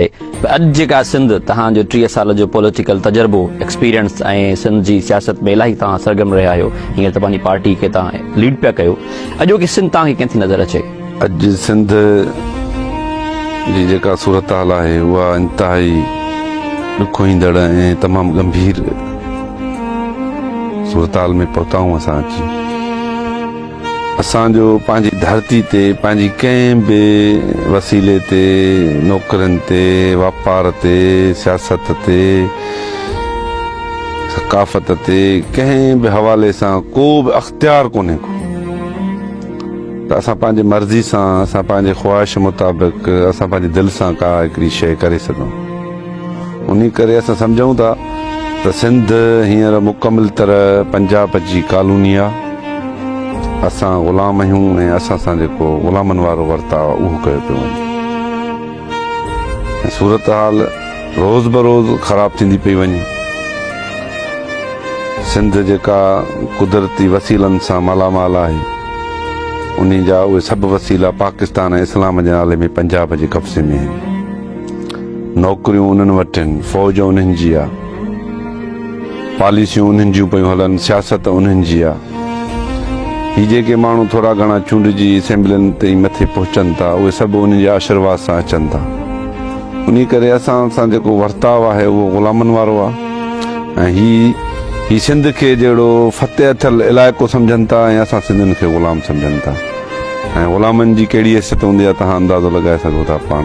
ته اڄ جيڪا سنڌ تهان جو ٽيهه سال جو پوليٽيڪل تجربو ايڪسپيرينس ۽ سنڌ جي سياست ۾ الاهي توهان سرگرم رهيا آهيو هينئر ته پنهنجي پارٽي کي توهان ليڊ پيا ڪيو اڄوڪي سنڌ توهان کي ڪئين ٿي نظر اچي؟ اڄ سنڌ جي جيڪا صورتحال آهي اها انتهائي ڏکوئيندڙ ۽ تمام ڳنڀير صورتحال ۾ پهتا آهيون اسان اچي اسان جو پنهنجي ڌرتي تي پنهنجي ڪنهن به وسيلي تي نوڪرين تي واپار تي سياست تي ثقافت تي ڪنهن به حوالي سان ڪو به اختيار ڪونهي ڪو ته اسان پنهنجي مرضي سان اسان پنهنجي خواهش مطابق اسان پنهنجي دل سان ڪا هڪڙي شيء ڪري سگهون انهي ڪري اسان سمجهون ٿا ته سنڌ هينئر مڪمل طرح پنجاب جي ڪالوني آ، اسان غلام آهيون ۽ اسان سان جيڪو غلامن وارو ورتاء اهو ڪيو پيو وڃي ۽ صورتحال روز بروز خراب ٿيندي پئي وڃي. سنڌ جيڪا قدرتي وسيلن سان مالا مال آهي، انهي جا اهي سڀ وسيلا پاڪستان ۽ اسلام جي نالي ۾ پنجاب جي قبضي ۾ آهن. نوڪريون انهن وٽ آهن، فوج انهن جي آ، پاليسيون انهن جون پيون هلن، سياست انهن جي آ. هي جيڪي ماڻهو ٿورا گهڻا چونڊجي اسيمبلين تائين مٿي پهچن ٿا، اهي سڀ انهن جي آشرواد سان اچن ٿا. انهي ڪري اسان سان جيڪو ورتاء آهي اهو غلامن وارو آ ۽ هي هي سنڌ کي جهڙو فتح ٿيل علائقو سمجهن ٿا ۽ اسان سنڌين کي غلام سمجهن ٿا ۽ غلامن جي ڪهڙي حيثيت هوندي آ، توهان اندازو لڳائي سگهو ٿا پاڻ.